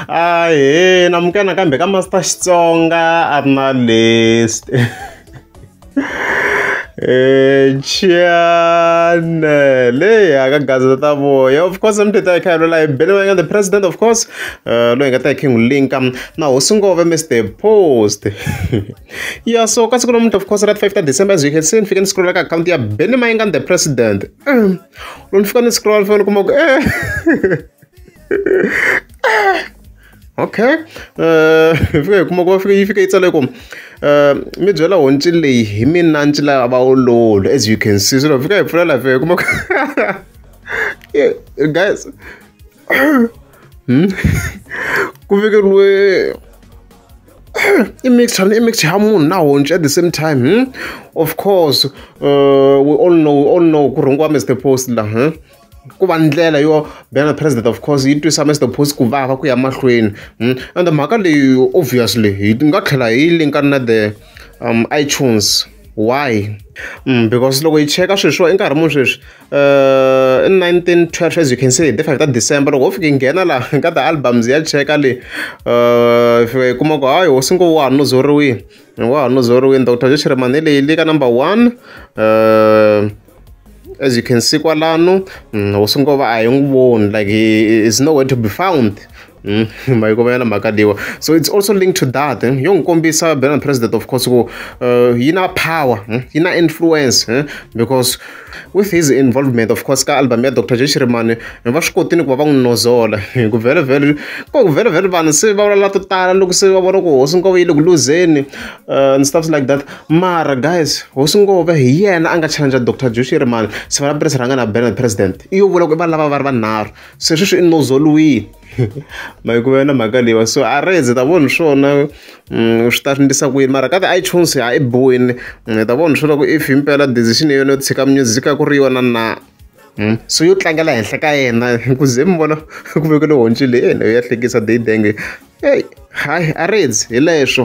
ahee namukana kambe ka master xitsonga a ri na list Chane, leyi aka gazeta ta voya of course mi tita ekhayelo la bele va nga the president of course uh, loyi nga ta king linka um, na hosi ngove mr post ya so ka siku lomunti of course ra 5 ta december as you can see ni fike ni scrolla ka akhawunti ya bele mayinga the president um, lo ni fika ni scrolla ni fika ni kuma ku eh okay um hi fika hi kuma ku va fika yi fika yi tsale ku um mi byela honci leyi hi mina nci la va ololo as you can see so loko fika hi pfula la fika hi kuma guys hmm? ku vikeriwe i mixture i mixture ya munhu na honci at the same time hmm? of course uh, we all know we all know ku rhungiwa mr post la hmm? ku va ndlela yo bela president of course yi twisa Mister Phosi ku vava ku ya mahlweni hmm? and mhaka leyi obviously hi nga tlhela hi linka na the um, iTunes why mm, because loko hi cheka sweswiwa i nkarhi muni sweswi uh, i 1912 as you can say the 5 ta december loko ho fike nghena la ka ti-albums ya cheka le uh, fika hi kuma ku hayi hosi ngo wa ha nuzoriwini wa ha nuzoriwini doctor joshiremani leyi le ka number one uh, as you can see kwalano mm, hosi ngova a hi n'wi voni like is nowhere to be found mm, mayikomela na mhaka leyiwa so it's also linked to that eh? yo n'wi kombisa belan president of course ku uh, yi na power eh? yi na influence eh? because with his involvement of course ka album ya dr jeshirimani va swi kotini ku va va n'wi nozola ku vhele vhele ko ku vhele vhele vanhu se va vulavula to tala loko se va vona ku hosi ngova yi le ku luzeni uh, and stuffs like that Mara guys hosi Ngove hi yena a nga challenge Doctor Jushi a ri mani se va lava rhanga na Bernard president i yo vula ku i va lava va ri vanharhu se sweswi i nozoliwini ma yi ku yona mhaka leyiwa so a ri ze ta vona hi swona mm, swi ta swi endlisa ku yini mara ka ti-itunes ha i boyini mm, ta vona hi swona ku if himpela decision ya yona yo tshika music a ku ri yona na Hmm? so yo tlangela henhla ka yena ku ze mi vona ku vekele honci leyi yena yo ya hlekisa dayidenge eyi hayi a ri ndzi hi leswo